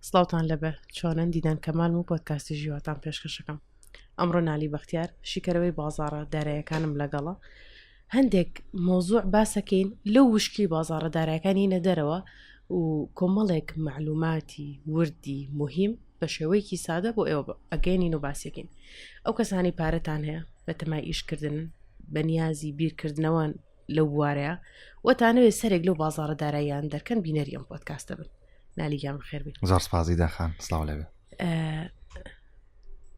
سڵاوتان لەبێ چۆنن دیدەن کەمالم و پۆتکاستی ژیواتان پێشکەشەکەم ئەمڕۆ نالی بەختیار شیکەرەوەی بازارە دارایەکانم لەگەڵە هەندێک مۆزوع باسەکەین لەو وشکی بازارە دارایەکانی نەدەرەوە و کۆمەڵێک معلوماتی وردی مهم بە شێوەیەکی سادە بۆ ئێوە ئەگەینین و باسیەکەین ئەو کەسانی پارەتان هەیە بە تەمای ئیشکردن بەنیازی بیرکردنەوەن لەو بوارەیە وە تانەوێت سەرێک لەو بازارە داراییان دەرکەن بینەری ئەم پۆتکاستە بن نالیگیان خێربی زار سپازی داخان سلااو لەێ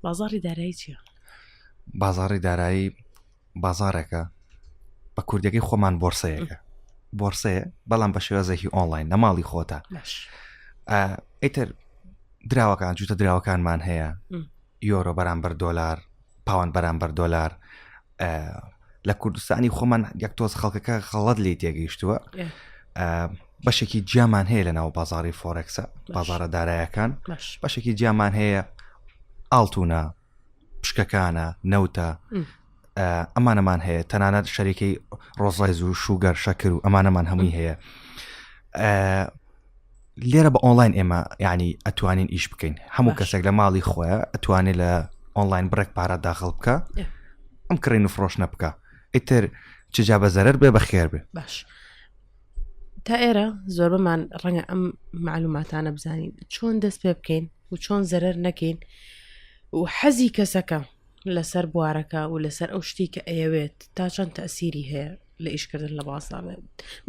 بازاری دارایی چیە؟ بازاری دارایی بازارێکە بە کوردەکەی خۆمان بۆرسەیەەکە بۆرسەیە بەڵام بە شێوازێکی ئۆنلاین نەماڵی خۆتە ئیتر دراوەکان جوتە دراوەکانمان هەیە یۆرۆ بەرامبەر دۆلار پاوان بەرامبەر دۆلار لە کوردستانی خۆمان یەک تۆز خەڵکەکە خەڵەت لی تێگەیشتووە بەشێکی جیامان هەیە لە ناو بازاری فۆرەکسە بازارە دارایەکان بەشێکی جیامان هەیە ئاڵتونە پشکەکانە نەوتە ئەمانەمان هەیە تەنانەت شەریکەی ڕۆزایز و شوگەر شەکر و ئەمانەمان هەمووی هەیە لێرە بە ئۆنلاین ئێمە ینی ئەتوانین ئیش بکەین هەموو کەسێک لە ماڵی خۆیان ئەتوانێت لە ئۆنلاین بڕێک پارە داخڵ بکە ئەم کڕین و فرۆشنە بکە ئیتر چجا بە زەرەر بێ بەخێر بێ باش تا ئێرە زۆر بەمان ڕەنگە ئەم معلوماتانە بزانین چۆن دەست پێ بکەین و چۆن زەرەر نەکەین و حەزی کەسەکە لەسەر بوارەکە و لەسەر ئەو شتی کە ئەیەوێت تا چەند تەسیری هەیە لە ئیشکردن لە بازارێ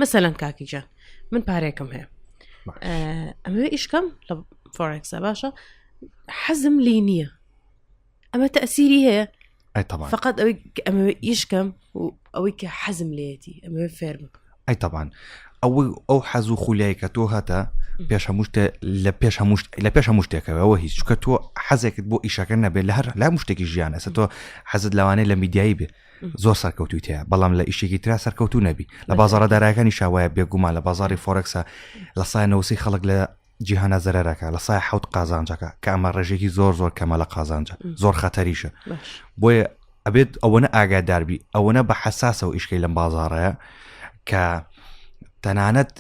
مەسەلەن کاکیجان من پارێکم هەیە ئەمەوێ ئیشکەم لە فۆرکسە باشە حەزم لی نییە ئەمە تەسیری هەیە فقط ئەوەی ئەمە ئیشکەم و ئەوەی کە حەزم لێتی ئەمە فێرم ئەی تەبان ئەو ئەو حەز و خولای کە تۆ هەتە پێش هەمووشت لە پێش هەمووشت لە پێش هەموو شتێکەوە هیچ چکە تۆ حەزێکت بۆ ئیشەکە نەبێت لە هەر لا مشتێکی ژیان ئەسە تۆ حەزت لەوانەیە لە میدیایی بێ زۆر سەرکەوتوی تەیە بەڵام لە ئیشێکی تررا سەرکەوتو نەبی لە بازارە دارایەکانی شاوایە بێگومان لە بازاری فۆرەکسە لە سای نەوسی خەڵک لە جیهانە زەرەکە لە سای حوت قازانجەکە کە ئەمە ڕێژێکی زۆر زۆر کەمە لە قازانجە زۆر خەتەریشە بۆیە ئەبێت ئەوەنە ئاگاداربی ئەوەنە بە حساسەوە ئیشکی لەم بازارەیە کە تەنانەت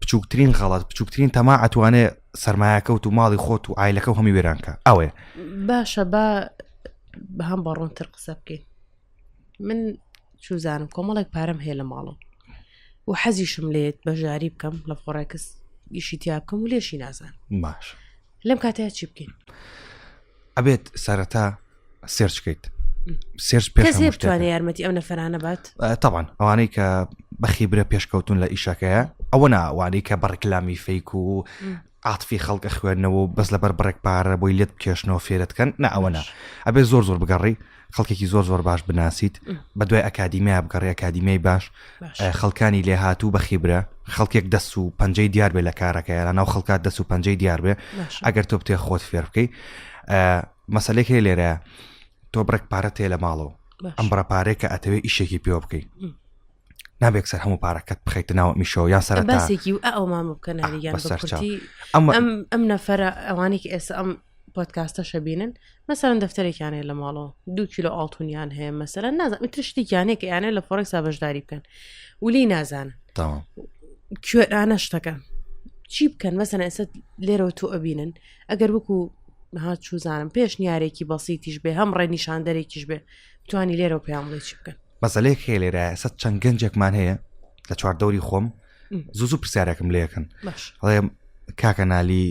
بچووکترین غەڵات بچووکترین تەما ئەتوانێ سرمایەکەوت و ماڵی خۆت و ئایلەکە هەمی وێرانکە ئەوێ باشە با بە هەم بە ڕوونتر قسە بکەین من چوزانم کۆمەڵێک پارەم هەیە لە ماڵم و حەزیشم لێت بەژاری بکەم لە فۆڕێکس ئیشی تیا بکەم و لێشی نازان باش لەم کاتەیە چی بکەین ئەبێت سەرەتا سێرچکەیت سێرچ پێشتوانێت یارمەتی ئەو نەفرانە بات تاوان ئەوانەی کە بەخیبرە پێشکەوتون لە ئیشەکەیە ئەوە ناوانەی کە بەڕکلامی فیک و عاتفی خەڵک ئەخوێنەوە و بەس لەبەر بڕێک پارە بۆی لێت بکێشنەوە فێرت کەن نا ئەوە نا ئەبێ زۆر زۆر بگەڕی خەڵکێکی زۆر زۆر باش بناسیت بە دوای ئەکادیمیا بگەڕی ئەکادیمیای باش خەڵکانی لێ هاتوو بە خیبرە خەڵکێک دەست و پەنجەی دیار بێ لە کارەکە یارا ناو خەڵکات دەست و پەنجەی دیار بێ ئەگەر تۆ بتێ خۆت فێر بکەی مەسلێک هەیە لێرە تۆ بڕێک پارە تێ لە ماڵەوە ئەم بڕە پارێکە ئەتەوێ ئیشێکی پێوە بکەیت نابێک سەر هەموو پارەکەت بخیتە ناوە میشەوە یا سەر باسێکی ئەو مامە بکەناریگەن ئەم نەفرە ئەوانێک ئێستا ئەم پۆتکاستە شەبینن مەسەرەن دەفتەرێکیانەیە لە ماڵەوە دو کیلو ئاڵتونیان هەیە مەسەر نازم تشتێکیانەیە کە یانە لە فۆرەکسا بەشداری بکەن ولی نازانن کوێرانە شتەکە چی بکەن مەسەن ئێستا لێرەوە تۆ ئەبینن ئەگەر وەکو ها چوزانم پێش نیارێکی بەسیتیش بێ هەم ڕێنیشاندەرێکیش بێ توانی لێرەوە پێیان بڵێ چی بکەن مەسەلەیەک هەیە لێرە ئێستا چەند گەنجێکمان هەیە لە چواردەوری خۆم زوو زوو پرسیارەکەم لەکەن ئەڵێ کاکە نالی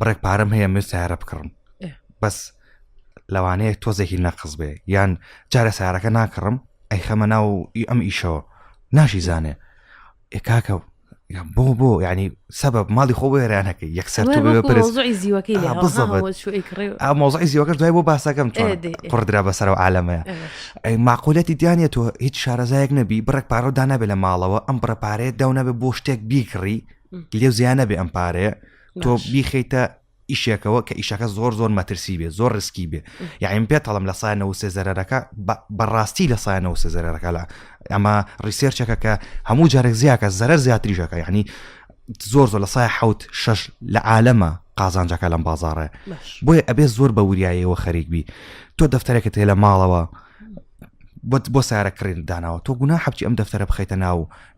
بڕێک پارەم هەیە من سیارە بکڕم بەس لەوانەیە تۆزێکی نەقز بێ یان جارە سارەکە ناکڕم ئەی خەمە ناو ئەم ئیشەوە ناشی زانێ کاکە بۆ بۆ ینی سەبب ماڵی خۆ وێرانەکە یەکسەر مۆزعی زیوەکە دوای بۆ باسەکەم قڕدرا بەسەرەوە عاالەمەیە ئەی ماقولەتی دیانە تۆ هیچ شارەزایەک نەبی بڕێک پارە و دانابێت لە ماڵەوە ئەم بڕە پارەیە داونابێت بۆ شتێک بیکڕی لێو زیانە بێ ئەم پارەیە تۆ بیخیتە ئیشێکەوە کە ئیشەکە زۆر زۆر مەترسی بێ زۆر ڕسکی بێ یاعیم یعنی پێ تەڵم لە سای نەوسێ زەرەکە بەڕاستی لە سای نەوسێ زەرەکە لە ئەمە ڕیسێرچەکە کە هەموو جارێک زیاکە زەرەر زیاتریشەکە یعنی زۆر زۆر لە سای حوت شش لە عالەمە قازانجەکە لەم بازارڕێ بۆیە ئەبێ زۆر بە وریایەوە خەریک بی تۆ دەفتەرێکە تێ لە ماڵەوە بۆ سارە کڕین داناوە تۆ گونا حەبی ئەم دەفتەرە بخیتە ناو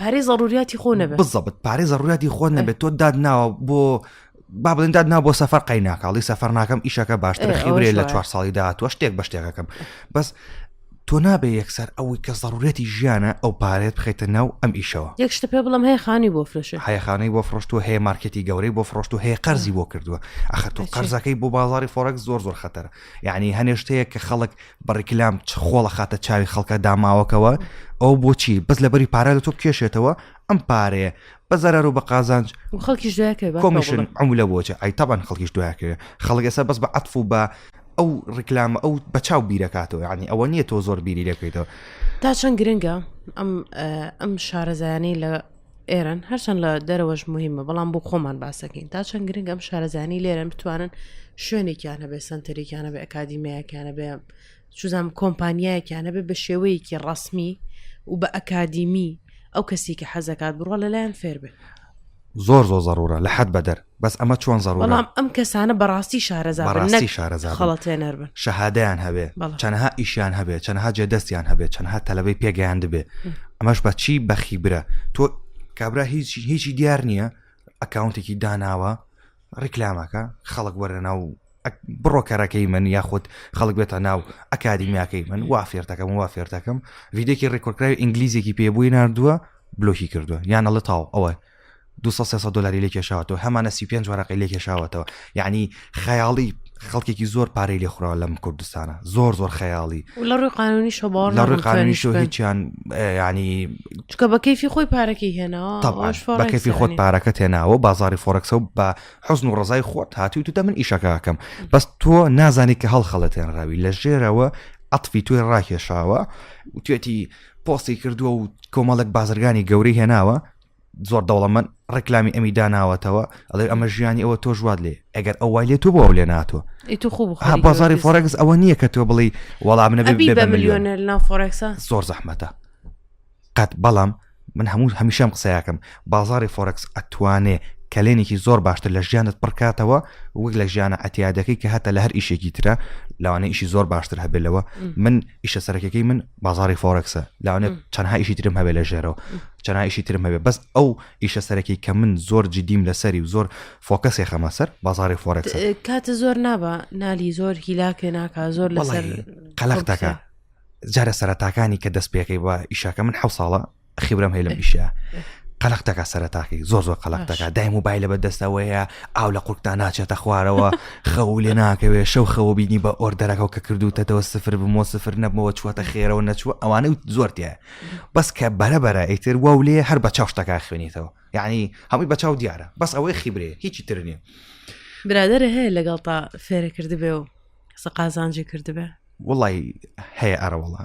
پارێ زەڕوریاتی خۆ نەبێت بزەبت پارێ زەڕوریاتی خۆ نەبێت تۆ داد ناوە بۆ با بڵێن داد نا بۆ سەفەر قەی ناکاڵی سەفەر ناکەم ئیشەکە باشتر خیورێ لە چوار ساڵی داهاتوە شتێک بە شتێکەکەم بەس تۆ نابێ یەکسەر ئەوەی کە زەڕورەتی ژیانە ئەو پارێت بخیتە ناو ئەم ئیشەوە یەک شتە پێ بڵم هەیە خانی بۆ فرۆشە هەیەخانەی بۆ فرۆشتوە هەیە مارکەتی گەورەی بۆ فرۆشت و هەیە قەرزی بۆ کردووە ئەخە تۆ قەرزەکەی بۆ بازاری فۆرەک زۆر زۆر خەتەر یعنی هەنێشتەیە کە خەڵک بە ڕیکلام چ خۆڵە خاتە چاوی خەڵکە داماوەکەوە ئەو بۆچی بەس لەبەری پارە لە تۆ کێشێتەوە ئەم پارەیە بە زەرەر و بە قازانج خەڵکیش کۆمیشن ئەم لە بۆچە ئای تاوان خەڵکیش دویاکەوێت خەڵک ئێستا بەس بە عەتف و بە ئەو ڕیکلامە ئەو بە چاو بیرەکاتەوە ینی ئەوە نییە تۆ زۆر بیری لەکەیتەوە تا چەند گرنگە ئەم ئەم شارەزایانەی لە ئێران هەرچەند لە دەرەوەش مهمە بەڵام بۆ خۆمان باسەکەین تا چەند گرنگ ئەم شارەزانی لێرەن بتوانن شوێنێکیانە بێ سنتەرێکیانە بە ئەکادیمیایەکیانە بێ چزانام کۆمپانیایەکیانە بێ بە شێوەیەکی ڕسمی و بە ئەکادیمی ئەو کەسی کە حەزەکات بڕە لەلایەن فێربێ زۆر زۆر زەڕورە لە حەد بەدەر بەس ئەمە چۆن زەڕ بەڵام ئەم کەسانە بەڕاستی شارەزا بەڕاستی شارەزا خەڵەتێنەر بن شەهادیان هەبێ چەنەها ئیشیان هەبێ چەنەها جێ دەستیان هەبێ چەنها تەلەبەی پێگەیان دەبێ ئەمەش بە چی بەخی برە تۆ کابرا هیچ هیچی دیار نییە ئەکاونتێکی داناوە ڕیکلامەکە خەڵک وەرە ناو بڕۆ کەرەکەی من یاخود خەڵک بێتە ناو ئەکادیمیاکەی من وا فێرتەکەم وا فێرتەکەم ویدێکی ڕێکۆرکراوی ئینگلیزێکی پێبووی نردووە بلۆکی کردووە یان ئەڵە تاو ئەوە دوو سەد سێ سەد دلاری لێ کێشاوەتەوە هەمانە سی پێنج وەرەقەی لێ کێشاوەتەوە یعنی خەیاڵی خەڵکێکی زۆر پارەی لێ خوراوە لەم کوردستانە زۆر زۆر خەیاڵی لە ڕووی قانونی شە باوەڕ لە ڕووی ناکەم قانونی توانیش شۆ بن. هیچیان ینی چکە بە کەیفی خۆی پارەکەی هێناوە طبعا ئەوەش فۆڕکسە بەکەفی خۆت یعنی. پارەکە تێناوە بازاری فۆرەکسە و بە حزن و ڕزای خۆت هاتی و تو دە من ئیشەکەکەم بەس تۆ نازانی کە هەڵخەڵەتێنراوی لە ژێرەوە عطفی توێ ڕاکێشاوە و توێتی پۆستی کردووە و کۆمەڵک بازرگانی گەورەی هێناوە زۆر دەوڵەمەند ڕێکلامی ئەمی داناوەتەوە ئەڵێ ئەمە ژیانی ئەوە تۆ ژوات لێ ئەگەر ئەو وای لێ تۆ بۆ ئەو لێ ناتۆ بازاری فۆرەکس ئەوە نییە کە تۆ بڵی وەڵام نەبێ بە میلیۆنە لە فۆرەکسە زۆر زەحمەتە قەت بەڵام من هەموو هەمیشەم قسەیەکەم بازاری فۆرەکس ئەتوانێ کەلێنێکی زۆر باشتر لە ژیانت پڕکاتەوە وەک لە ژیانە ئەتیادەکەی کە هەتا لە هەر ئیشێکی ترە لەوانە ئیشی زۆر باشتر هەبێت لەوە من ئیشە سەرەکەکەی من بازاری فۆرەکسە لاوانێ چەندها ئیشی ترم هەبێ لە ژێرەوە چەندها ئیشی ترم هەبێ بەس ئەو ئیشە سەرەکی کە من زۆر جدیم لەسەری و زۆر فۆکەسێ خەمە سەر بازاری فۆرەکس کاتە زۆر نابە نالی زۆر هیلاکێ ناکە زۆر لەسەر قەلەختەکە جارە سەرەتاکانی کە دەست پێەکەی بە ئیشاکە من حە ساڵە خیبرەم هەیە لەم ئیشە قەلق دەکات سەرتاقی زۆر زۆر قەلق دەکات دای موبایل لە بەدەستەوەیە ئاو لە قورتدا ناچێتە خوارەوە خەو لێ ناکەوێت شەو خەوە بینی بە ئۆردەرەکەەوە کە کردوتەتەوە سفر بمەوە سفر نەبمەوە چوەتە خێرەوە نەچوە ئەوانە زۆرتە بەس کە بەرەبەرە ئیتر وا و لێ هەر بە چاوشتەکە خوێنیتەوە یعنی هەمووی بە چاو دیارە بەس ئەوەی خیبرێ هیچی تر نیە برادرە هەیە لەگەڵ تا فێرە کردبێ و قسە قازانجی کردبێ وڵی هەیە ئەرەوەڵە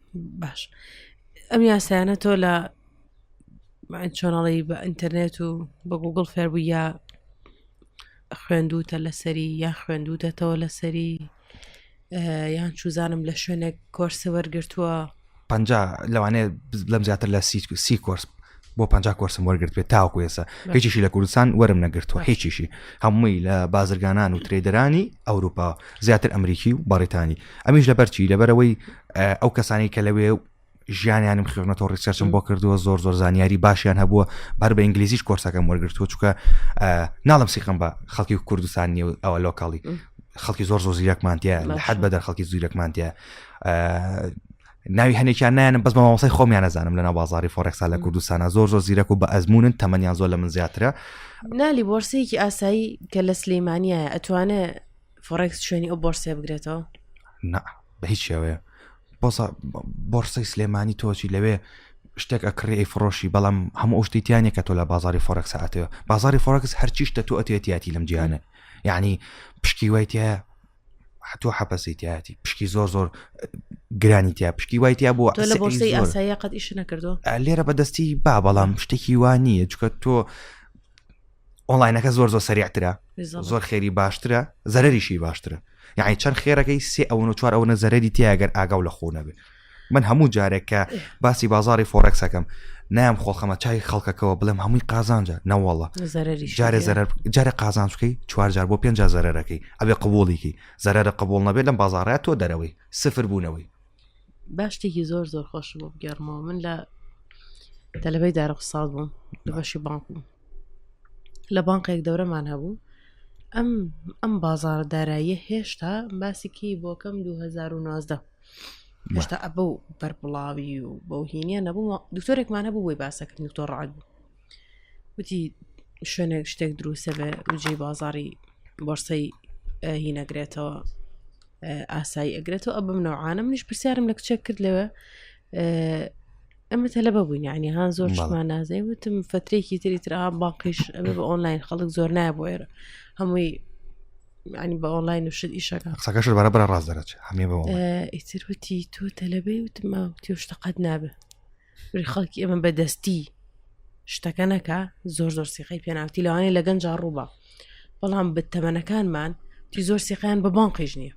باش ئەم یاسایانە تۆ لە چۆناڵی بە ئینتەرنێت و بە گوگل فێربوو یا خوێندوتە لەسەری یا خوێندوتەتەوە لەسەری یان چوزانم لە شوێنێک کۆرسە وەرگتووە پ لەوانێ لەم زیاتر لە سی کۆرس بۆ پ کۆرسم وەرگرتێت تاوکو ێسە هیچیشی لە کوردستان وەرم نەگرتووە هیچیشی هەمووی لە بازرگانان و ترێدرانی ئەوروپا زیاتر ئەمریکی و بەڕێتانی ئەمیش لە بەرچی لەبەرەوەی ئەو کەسانی کە لەوێ ژیانیانم خوێنەوە ڕیسەرچم بۆ کردووە زۆر زۆر زانیاری باشیان هەبووە بەر بە ئینگلیزیش کۆرسەکەم وەرگرتووە چکە ناڵم سیقم بە خەڵکی کوردستان نیە ئەوە لۆکاڵی خەڵکی زۆر زۆر زیرەکمانتیە لە حد بەدەر خەڵکی زیرەکمانتیە ناوی هەنێکیان نایەنم بەس بە مامۆسای خۆمیان نەزانم لەنا بازاری فۆرێکسا لە کوردستانە زۆر زۆر زیرەک و بە ئەزمونن تەمەنیان زۆر لە من زیاترە نالی بۆرسەیەکی ئاسایی کە لە سلەیمانە ئەتوانێت فۆرێکس شوێنی ئەو بۆرسێ بگرێتەوە نا بە هیچ شێوەیە بۆسا بۆرسەی سلێمانی تۆچی لەوێ شتێک ئەکڕی ئەی فڕۆشی بەڵام هەموو شتیتیانە کە تۆ لە بازاری فۆرەکس هاتەوە بازاری فۆرەکس هەرچیشتە تۆ ئەتێتیاتی لەم جیانە یعنی پشکی وایتە حتو حەپەسی تیاتی پشکی زۆر زۆر گرانی تیا پشکی وای تیا بۆ قەت ئیش نەکردو لێرە بەدەستی با بەڵام شتێکی وانیە چکە تۆ ئۆنلاینەکە زۆر زۆر سەریعترە زۆر خێری باشترە زەرریشی باشترە یعنی چەند خێرەکەی سێ ئەوەن و چوار ئەوەنە زەرری تیاگەر ئاگاو لە خۆ نەبێت من هەموو جارێک کە باسی بازاری فۆرەکس ئەەکەم نام خۆڵخەمە چای خەڵکەکەەوە بڵێم هەمووی قازانجە نەوەڵە جارێ زەرەر جارە قازانچکەی چوارجار بۆ پێنج زەرەرەکەی ئەبێ قبولێکی زەرەرە قبول نەبێت لەم بازارە تۆ دەرەوەی سفر بوونەوەی باشتێکی زۆر زۆر خۆش بۆ بگەڕمەوە من لە تەلبەی دارە قساڵ بووم لە بەشی بانک بووم لە بانقێک دەورەمان هەبوو ئەم ئەم بازارە داراییە هێشتا باسیکی بۆکەم 2019 هێشتا ئە بەو بەربڵاوی و بەو هینە نەبوو دکتۆرێکمان هەبوو بۆی باسەکرد دکتۆر ڕعد بوو وتی شوێنێک شتێک دروستە بێ وجێ بازاری بۆرسەی هی نەگرێتەوە ئاسایی ئەگرێتەوە ئە بم نەوانە منیش پرسیارم لە کچێک کرد لەوە ئەمە تەلە بەبووین ینی هاان زۆر شمان نازای وتم فترێکی تری تررا باقیش ئەمە بە ئۆنلاین خەڵک زۆر نایە بۆ ئێرە هەمووی ینی بە ئۆنلاین و شت ئیشەکە قسەکەش بەرە بەرە ڕاست دەرەچ هەمێ بە ئیتر وتی تۆ تەلەبەی وتما تۆ شتەقەت نابێ وری خەڵکی ئەمە بەدەستی شتەکە نەکە زۆر زۆر سیقی پێناوتی لەوانەیە لە گەنج ڕووبە بەڵام بە تەمەنەکانمان تی زۆر سیقیان بە بان قیژ نییە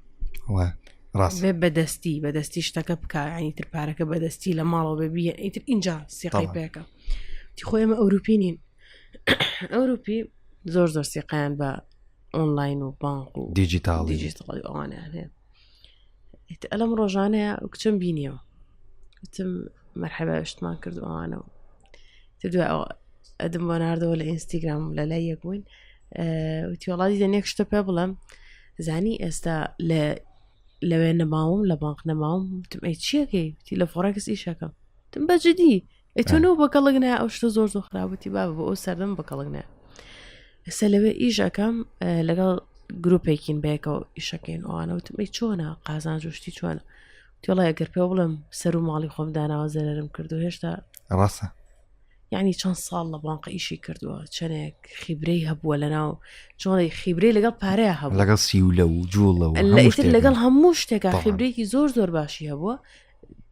ڕاست بەدەستی بەدەستی شتەکە بکانی تر پارەکە بەدەستی لە ماڵەوە ببیە ئیتر اینجا سیقی پێەکە تی خۆ ئێمە ئەوروپی نین ئەوروپی زۆر زۆر سیقیان بە ئۆنلاین و بانک و دیجیتاڵی دیجیتاڵی ئەوانیان هەیە ئەلم ڕۆژانەیە کچم بینیەوە وتم مەرحەبە شتمان کرد ئەوانەوە دوای ئەوە ئەدم بۆ نردەوە لە ئینستیگرام لە لای یەک بووین وتیوەڵاتی دەنێک شتە پێ بڵم زانی ئێستا لە لەوێ نەماوم لە بانک نەماوم وتم ئەی چیەکەی وتی لە فۆڕکس ئیشەکەم تم بەجددی ئەتون و بە کەڵک نە ئەو شتە زۆر زۆر خراوەتی با بۆ ئەو سەردەم بە کەڵک نە ئێستا لەوێ ئیش ئەەکەم لەگەڵ گرروپێکین بەیەکەوە ئیشەکەین ئەوانەوتمی چۆنە قازان جوشتی چۆنە تۆڵای گەر پێ بڵم سەر و ماڵی خۆم داناوە زەرم کردو هێشتا ڕاستە یعنی چەند ساڵ لە بانقە ئیشی کردووە چەنێک خیبرەی هەبووە لە ناو چۆڵی خیبرەی لەگەڵ پارەیە هەبوو لەگەڵ سیولە و جوڵەوە لەگەڵ هەموو شتێکا خیبرێکی زۆر زۆر باشی هەبووە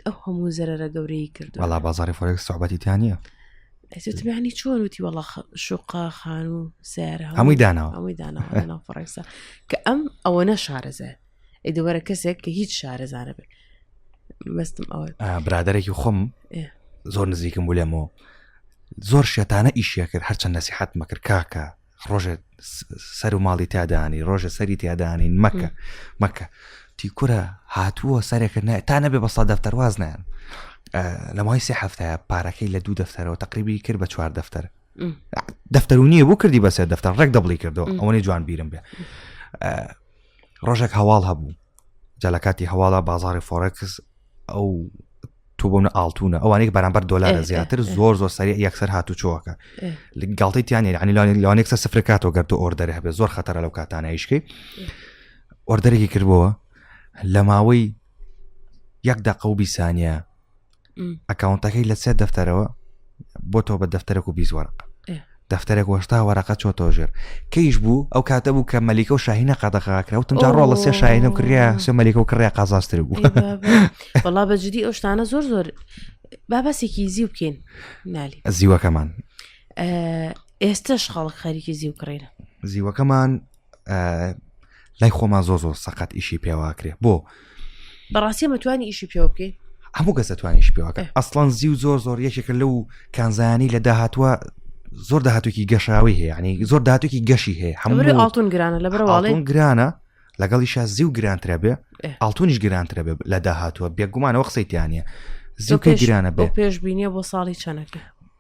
ئەو هەموو زەرەرە گەورەی کرد بەڵا بازاری فۆرێک سوعبەتی تیا نیە ئەسوتمیانی چۆن وتی وەڵا شوقا خان و سەر هەمووی داناوە هەمووی داناوە فڕێسا کە ئەم ئەوە نە شارەزە ئەی دەوەرە کەسێک کە هیچ شارەزانە بێت مەستم ئەوە برادێکی خۆم زۆر نزیکم بولێمەوە زۆر شێتانە ئیشە کرد هەرچەند نەسیحەت مەکرد کاکە ڕۆژێ سەر و ماڵی تادانی ڕۆژە سەری تیادانین مەکە مەکە تیکورە هاتووە سەرێکە نای تا نەبێ بەستا دەفتەر واز نیان لە مای سێ هەفتەیە پارەکەی لە دوو دەفتەرەوە تقریبی کرد بە چوار دەفتەر دەفتەر و نییە بۆ کردی بەسێ دەفتەر ڕێک دەبڵی کردەوە ئەوەی جوان بیرم بێ ڕۆژێک هەواڵ هەبوو جا لە کاتی هەواڵە بازاری فۆرکس ئەو تو بوون ئاڵتونە ئەوانێک بەرامبەر دۆلارە زیاتر زۆر زۆر سەری یەکسەر هاتو چۆکە گڵتی تیانێ عنی لەوانێک سە سفرکاتەوە گەر تۆ ئۆردەر هەبێت زۆر خەتەرە لەو کاتانایشکی ئۆردەرێکی کردبووە لە ماوەی یەک دقە و بیسانە ئەکاونتەکەی لە سێ دەفتەرەوە بۆ تۆ بە دەفتەرێک و بیزوەرق دەفتەرێک وەشتا وەرەقە چۆ تۆژێر کەیش بوو ئەو کاتە بوو کە مەلیکە و شاهینە قەدەخاکراوتم جا ڕۆڵە سێ شاهینە کریا سێ مەلیکە و کڕیا قازاستر بوو بەڵا بەجددی ئەو شتانە زۆر زۆر باباسێکی زیو بکەین نالی زیوەکەمان ئێستش خەڵک خەریکی زیو کڕینە زیوەکەمان لای خۆمان زۆ زۆر سەقەت ئیشی پێواکرێ بۆ بەڕاستی مەتوانی ئیشی پێوە بکەین هەموو کەس دەتوانیش پێواکە ئەسڵان زی و زۆر زۆر یەکێکە لەو کانزانانی لە داهاتوە زۆر داهاتوێکی گەشاوی هەیە ینی زۆر دااتێکی گەشی هەیە هەموو ئاڵتون گرانە لە بەرواڵێن گرانە لەگەڵی شا زی و گرانترە بێ ئاڵتونیش گرانترە بێ لە داهاتوە بێگومانەوە قسەیتیانە زیوکە گرانە بۆ پێش بینیە بۆ ساڵی چەنەکە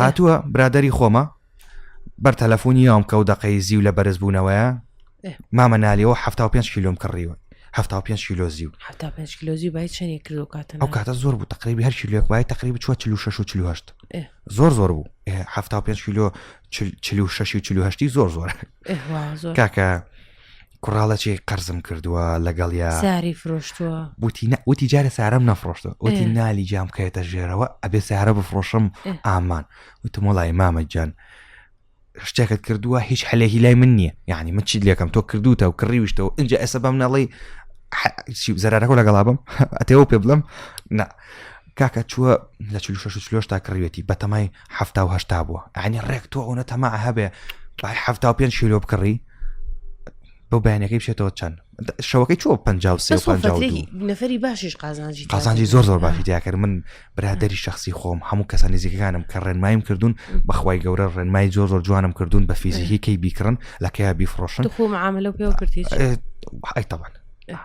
هاتووە برادری خۆمە بەر تەلەفۆنی یام کە و دەقەی زی و لە بەرز بوونەوەیە مامە نالیەوە ه پێ کیلوم کڕیوە ه پێ کیلۆ زی و کیلۆ زی بای چنی کردو کاتە ئەو کاتە زۆر بوو تقریبی هەر کیلوێک وای تقریب چوە چلو شش و چلوهشت زۆر زۆر بوو ه پێ کیلۆ چلو شش و چلوهشتی زۆر زۆر کاکە کوڕاڵەچی قەرزم کردووە لەگەڵیا ساری فرۆشتووە وتی نە وتی جارە سارم نەفرۆشتە وتی نالی جام کەێتە ژێرەوە ئەبێ سارە بفرۆشم ئامان وتم وڵی مامە جان شتێکت کردووە هیچ حلێکی لای من نییە یعنی من چیت لەکەم تۆ کردوتە و کڕیویشتەوە اینجا ئێستا بەم نەڵی زەرەکە لەگەڵا بم ئەتەوە پێ بڵم نا کاکە چووە لە چلو شش چلۆش تا کڕوێتی بەتەمای هەفتا و هەشتا بووە ئەنی ڕێک تۆ ئەوە تەما هەبێ بای هەفتا و پێنج شیلۆ بکڕی بۆ بەیانەکەی بشێتەوە چەند شەوەکەی چوە پ نەفری باشش قازانجی قازانجی زۆر زۆر باشی دیاکرد من برادری شخصی خۆم هەموو کەسە نزیکەکانم کە ڕێنمایم کردوون بەخوای گەورە ڕێنمای زۆر زۆر جوانم کردوون بە فیزیکی کەی بیکڕن لەکەیا بیفرۆشن خۆ عملە پێ کردی ئەی تەوان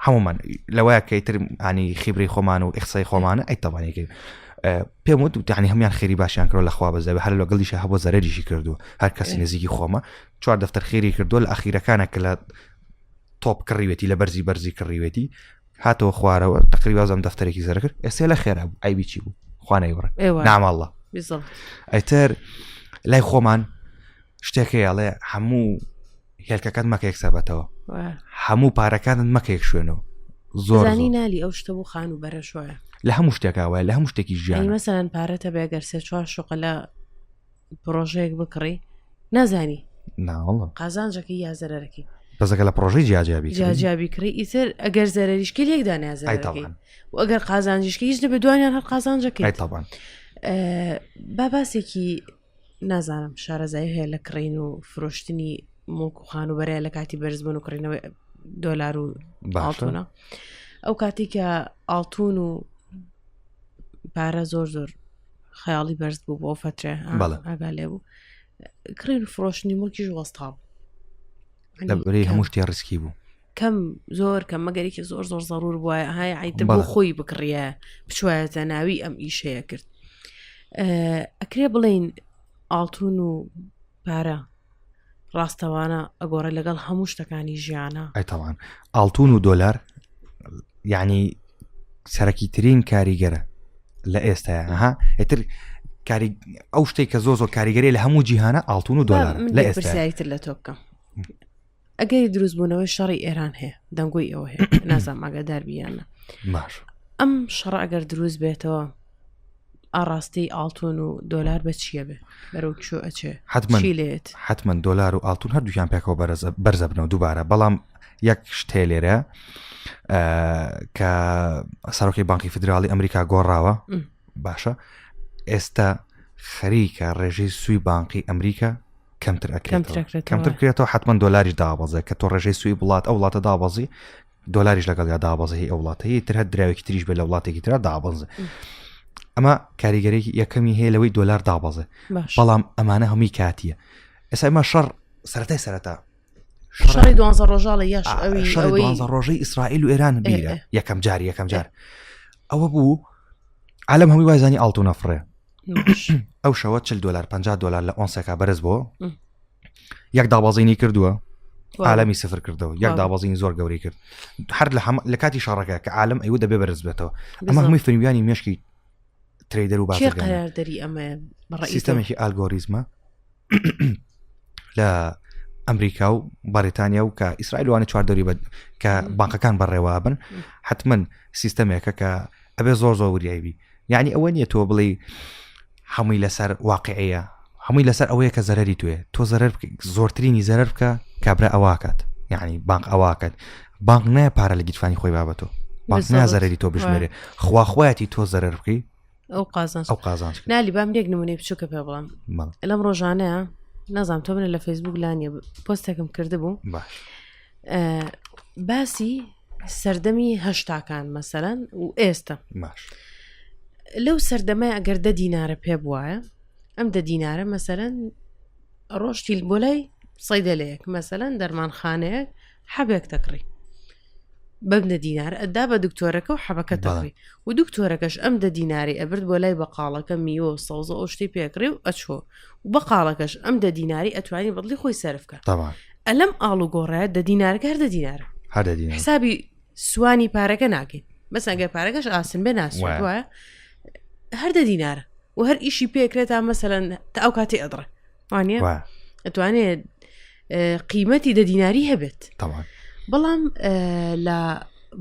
هەمومان لەوەیە کە تر ئانی خیبری خۆمان و ئەخسای خۆمانە ئەی تەوانێکی پێم وت وتانی هەمان خێری باشیان کرد لەخوا بەزەوە هەر لە گەڵیشە هەبوو زەرریشی کردو هەر کەسی نزیکی خۆمە چوار دەفتەر خێری کردو لە ئەخیرەکانە کە لە تۆپ کڕیوێتی لە بەرزی بەرزی کڕیوێتی هاتەوە خوارەوە تقری وازم دەفتەرێکی زەر کرد ئێستا لە خێرا بوو ئایبی چی بوو خوانەی وڕ ناماڵە ئەتر لای خۆمان شتێکەیەڵێ هەموو هێلکەکەت مەکە یەک سەبەتەوە هەموو پارەکانت مەکە یەک شوێنەوە زۆرانی نالی ئەو شتە بۆ خان و بەرە شوایە لە هەموو شتێکا وای لە هەموو شتێکی ژیان مەسەران پارەتە بێگەر سێ چوار شوقە لە پرۆژەیەک بکڕی نازانی ناوەڵە قازانجەکە یا زەرەرەکەی بەزەکە لە پرۆژەی جیاجیابی جیاجیابی کڕی ئیتر ئەگەر زەرریشکی لێک دانیازەکەی و ئەگەر قازانجیشکی هیچ نەبێ دوانیان هەر قازانجەکەی تاوان باباسێکی نازانم شارەزایی هەیە لە کڕین و فرۆشتنی مڵک و خانوبەرەیە لە کاتی بەرزبوون و کڕینەوەی دۆلار و باڵتونە ئەو کاتی کە ئاڵتون و پارە زۆر زۆر خەیاڵی بەرز بوو بۆ فترێ ئاگا لێ بوو کڕین فرۆشتنی مڵکیش وەستا بوو لە بری هەموو شتێ ڕسکی بوو کەم زۆر کەم مەگەرێکی زۆر زۆر زەرور بواە های عیتر بۆ خۆی بکڕە بچواەتە ناوی ئەم ئیشەیە کرد ئەکرێ بڵین ئاڵتون و پارە ڕاستەوانە ئەگۆڕە لەگەڵ هەموو شتەکانی ژیانە ئەتەوان ئاڵتون و دۆلار یعنی سەرەکی ترین کاریگەرە لە ئێستا ها ئەتر کاری ئەو شتێک کە زۆ زۆر کاریگەری لە هەموو جیهانە ئاڵتون و دۆلار لە ئێستا لە تۆ بکەم ئەگەری دروستبوونەوەی شەڕی ئێران هەیە دەنگۆی ئەوە هەیە نازام ئاگادار بیانە باش ئەم شەڕ ئەگەر دروست بێتەوە ئاڕاستی ئاڵتون و دۆلار بە چییە بێ بەرەو چۆ ئەچێ حتمما چی لێت حتمما دۆلار و ئاڵتون هەردووکیان پێکەوە بەرزە بەرزە بنەوە دووبارە بەڵام یەک شتێ لێرە ئە، کە سەرۆکی بانکی فیدراڵی ئەمریکا گۆڕاوە م. باشە ئێستا خەریکە ڕێژەی سوی بانقی ئەمریکا کەمتر کەمتر کرێتەوە حتمما دۆلاریش دابەزێ کە تۆ ڕێژەی سوی وڵات ئەو وڵاتە دابەزی دۆلاریش لەگەڵ یا دابەزی ئەو وڵاتەیە تر هە دراوێکی تریش بێ لە وڵاتێکی تررا دابەزێ ئەمە کاریگەرێکی یەکەمی هەیە لەوەی دۆلار دابەزێ بەڵام ئەمانە هەمووی کاتیە ئێستا ئمە شەڕ سەرەتای سەرەتا شەڕی دوانزە ڕۆژاڵە یاش ئەویزە ڕۆژەی ئیسرائیل و ئێران بیرە یەکەم جار یەکەم جار ئەوە بوو عالم هەمووی وایزانی ئاڵتو نەفرێ ئەو شەوە چل دلار 50 دلار لە ئۆنسەکە بەرز بۆ یەک دابازینی کردووە عالمی سفر کردەوە یەک دابازین زۆر گەوری کرد هەر لە کاتی شارەکە کە عالم ئەو دەبێ بەرز بێتەوە ئەمە هەمووی فریویانی مشکی تریدەر و بازرگان دەری ئەمە سیستەمێکی ئالگۆریزمە لە ئەمریکا و بەریتانیا و کە ئیسرائیلوانە چواردەوری بە کە بانقەکان بەڕێوە بن حتمما سیستەمێکە کە ئەبێ زۆر زۆر وریایبی یعنی ئەوە نیە تۆ بڵێ هەمووی لەسەر واقعەیە هەمووی لەسەر ئەوەیە کە زەرری توێ تۆ زەرەر زۆرترینی زەرەر بکە کابرا ئەواکات یعنی بانق ئەواکات بانق نایە پارە لە گیرفانی خۆی بابەتۆ بانق نازەرری تۆ بژمێرێ خواخوایەتی تۆ زەرر بکەی ئەو قازان ئەو قازان نالی بام لێک نمونەی بچووکە پێ بڵم لەم ڕۆژانەیە نازانام تۆ منە لە فەیسبوک لانیە پۆستێکم کردبوو باش باسی سەردەمی هەشتاکان مەسەرەن و ئێستا باش لەو سەردەمای ئەگەر دە دینارە پێ بواە ئەم دە دینارە مەسەرەن ڕۆشتیل بۆ لای سەیدەلەیەک مەسەەن دەرمانخانەیەک حەبێک تەکڕی بەم دە دینار ئەدا بە دکتۆرەکە و حەبەکە تەڕی و دکتۆرەکەش ئەم دە دیناری ئەبرد بۆ لای بەقاڵەکە میوە و سەوزە ئەو شتی پێکڕێ و ئەچۆ و بەقاڵەکەش ئەم دە دیناری ئەتوانی بەڵی خۆی سرف کرد ئەلم ئاڵ و گۆڕایە دە دینارەکە هەر دە دینارە حسابی سوانی پارەکە ناکەین بەسەگە پارەکەش ئاسن بێ ناسوە هەر دە دینارە و هەر ئیشی پێکرێت تا مەسەەن تا ئەو کاتی ئەدڕێ وانە ئەتوانێت قیمەتی دە دیناری هەبێت بەڵام لە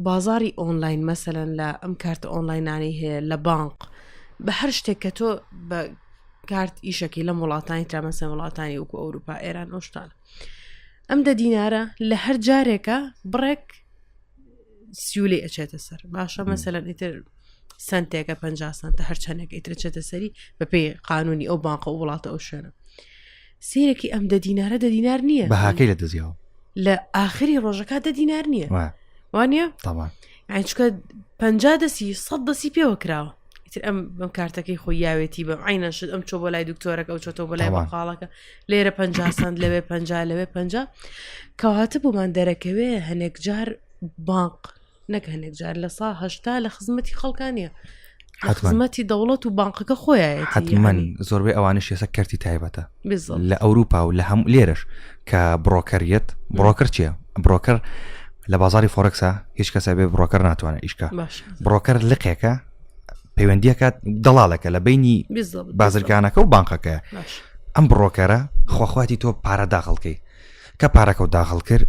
بازاری ئۆنلاین مەسەن لە ئەم کارتە ئۆنلاینانی هەیە لە بانق بە هەر شتێک کە تۆ بە کارت ئیشەکەی لەم وڵاتانی ترامەسە وڵاتانی وکو ئەوروپا ئێران ئۆشتان ئەم دە دینارە لە هەر جارێکە بڕێک سیولی ئەچێتە سەر باشە مەسەلەن ئیتر سنتێکە پ سانتە هەرچەندێک ئیتر چێتە سەری بەپی قانونی ئەو بانقە و وڵاتە ئەو شوێنە سیرەکی ئەم دە دینارە دە دینار نییە بەهاکەی لە دەزیەوە لە ئاخری ڕۆژەکە دە دینار نییە وانە ئەچکە پ دەسی سە دەسی پێوە کراوە تر ئەم بەم کارتەکەی خۆی یاوێتی بەم عینە شت ئەم چۆ بۆ لای دکتۆرەکە ئەو چۆتەوە بۆ لای مەقاڵەکە لێرە پ سند لەوێ پ لەوێ پ کەواتە بۆمان دەرەکەوێ هەنێک جار بانق نەک هەنێک جار لە سا هەشتا لە خزمەتی خەڵکان نیە خزمەتی دەوڵەت و بانقەکە خۆیان حتممەن زۆربەی ئەوانش ێسە کەرتی تایبەتە لە ئەوروپا و لە هەم لێرش کە بڕۆکەریت بڕۆکر چیە بڕۆکەر لە بازاری فۆرەکسا هیچ کەسە بێ بڕۆکەر ناتوانێت ئیشکە بڕۆکەر لقێکە پەیوەندیەکە دەڵالەکە لە بینی بازرگانەکە و بانقەکە ئەم بڕۆکەرە خۆخواتی تۆ پارە داخڵکەی کە پارەکە و داخڵ کرد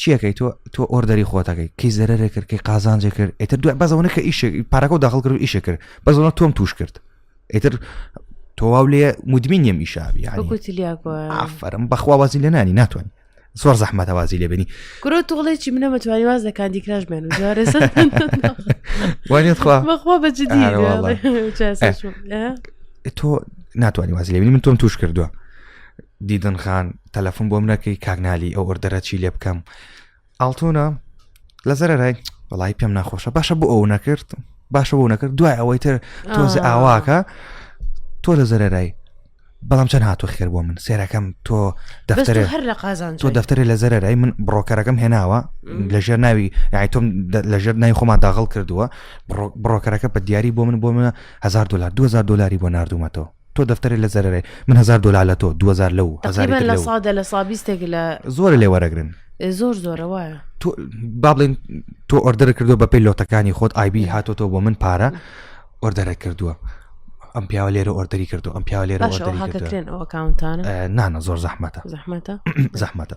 چیەکەی تۆ تۆ ئۆردەری خۆتەکەی کەی زەرێ کرد کەی قازانجێ کرد ئێتر دوای بەزەونە کە ئیش پارەکە داخل کرد ئیشە کرد بەزەوە تۆم توش کرد ئێتر تۆواو لێ مدمین یم ئیشابی ئافرم بەخوا وازی لە نانی ناتوانین زۆر زەحمەتەوازی لێبنی گرۆ تۆڵێکی منە مەتوانی واز لە کاندی کراش بێن وانێتخواخوا بەجددی تۆ ناتوانانی واز لێبنی من تۆم توش کردووە دیدن خان تەلەفۆن بۆم نەکەی کاگنالی ئەو ئۆردەرە چی لێ بکەم ئاڵتونە لە زەرەرای وڵی پێم ناخۆشە باشە بۆ ئەو نەکرد باشە بۆ نەکرد دوای ئەوەی تر تۆزە ئاواکە تۆ لە زەرەرای بەڵام چەند هاتو خێر بۆ من سێرەکەم تۆ دەفتەر هەر لە قازان تۆ دەفتەری لە زەرەرای من بڕۆکەرەکەم هێناوە لەژێر ناوی یای تۆم لەژێر ناوی خۆمان داغڵ کردووە بڕۆکەرەکە بە دیاری بۆ من بۆ منە هزار دلار 2000 دلاری بۆ نردومەتەوە تۆ دەفتەرێ لە زەرەرێ من هەزار دۆلار لە تۆ دوزار لە و هەزاری لە سادە لە سابیستێک لە زۆر لێ وەرەگرن زۆر زۆرە وایە تۆ بابلین تۆ ئۆردەر کردو بە پێی لۆتەکانی خۆت ئایبی هاتۆ تۆ بۆ من پارە ئۆردەرە کردووە ئەم پیاوە لێرە ئۆردەری کردو ئەم پیاوە لێرە ئەوکانتانە نانە زۆر زەحمەتە زەحمەتە زەحمەتە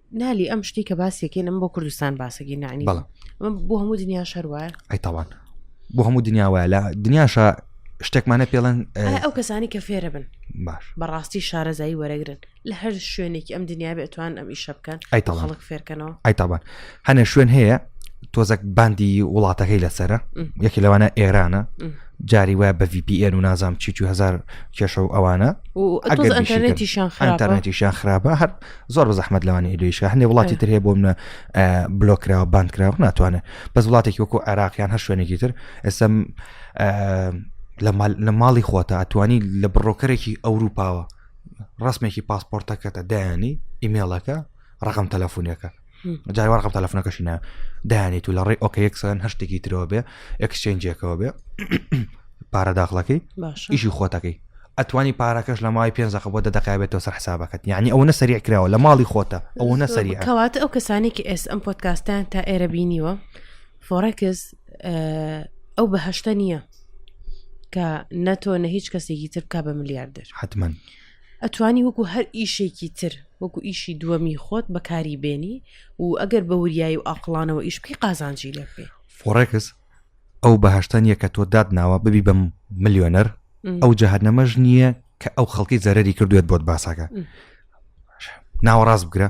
نالی ئەم شتی کە باسێکین ئەم بۆ کوردستان باسەگی نانی بەڵام بۆ هەموو دنیا شەروایە ئەی تاوان بۆ هەموو دنیا وایە لە دنیاشە شتێکمانە پێڵەن ئەو کەسانی کە فێرە بن باش بەڕاستی شارەزایی وەرەگرن لە هەر شوێنێکی ئەم دنیا بێتوان ئەم ئیشە بکەن ئەی تاڵک فێرکەنەوە ئەی تاوان هەنێ شوێن هەیە تۆزەک باندی وڵاتەکەی لەسرە یەکی لەوانە ئێرانە جاری وایە بە VPN و نازام چی هزار کێشە و ئەوانە ئەگەرتیشان خراپە هەر زۆر بە زەحمت لەوانی ئیدویشە هەندێ وڵاتی تر هەیە بۆ منە بلۆکراوە بانکراوە ناتوانێت بەس وڵاتێکی وەکو عراقیان هەر شوێنێکی تر ئێستا لە ماڵی خۆتە ئەتوانی لە بڕۆکەرێکی ئەوروپاوە ڕسمێکی پاسپۆرتەکەتە دایانی ئیمێڵەکە ڕقم تەلەفۆنیەکە جای وەڕقم تەلەفۆنەکەشی نایە دانێت و لە ڕێی ئۆکەیەکسەن هەر شتێکی ترەوە بێ ئەکسچێنجێکەوە بێ پارە داخڵەکەی ئیشی خۆتەکەی ئەتوانی پارەکەش لە ماوەی پێ زەخە بۆ دەدەقابێتەوە سەر حسابەکەت یعنی ئەو نە سەریع کراوە لە ماڵی خۆتە ئەو نە سەری کەواتە ئەو کەسانێکی ئێس ئەم پۆتکاستان تا ئێرە بینیوە فۆڕکس ئەو بەهشتە نییە کە نەتۆ نە هیچ کەسێکی تر بک بە ملیاردر حتمما ئەتوانی وەکو هەر ئیشێکی تر وەکو ئیشی دووەمی خۆت بەکاری بێنی و ئەگەر بە وریایی و ئاقلانەوە ئیش بکەی قازانجی لێ بێ فۆڕێکس ئەو بەهشتا نییە کە تۆ داد ناوە ببی بەم ملیۆنەر ئەو جەهنەمەش نییە کە ئەو خەڵکی زەرری کردوێت بۆت باساکە ناوەڕاست بگرە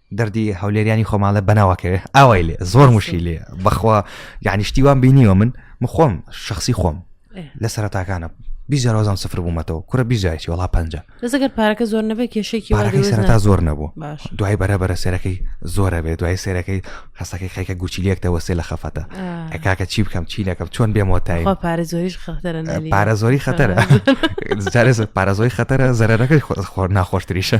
دەردی هەولێریانی خۆماڵە بەناواکەێ ئاوای لێ زۆر مشی لێ بەخوا یعنی شتیوان بینیوە من مخۆم شخصی خۆم لە سەرتاکانە بیزارۆزان سفر بوومەتەوە کورە بیزایسی وڵا پ لەگەر پارەکە زۆر نەبێت کێشێکی سەرتا زۆر نەبوو دوای بەرە بەرە سێرەکەی زۆرە بێت دوای سێرەکەی خستەکەی خەکە گوچیلێکتەوە سێ لە خەفەتە ئەکاکە چی بکەم چی لەکەم چۆن بێمەوە تای پارە زۆریش خەتەر پارە زۆری خەتەرە پارە زۆری خەتەرە زەرەکەی خۆر ناخۆشتریشە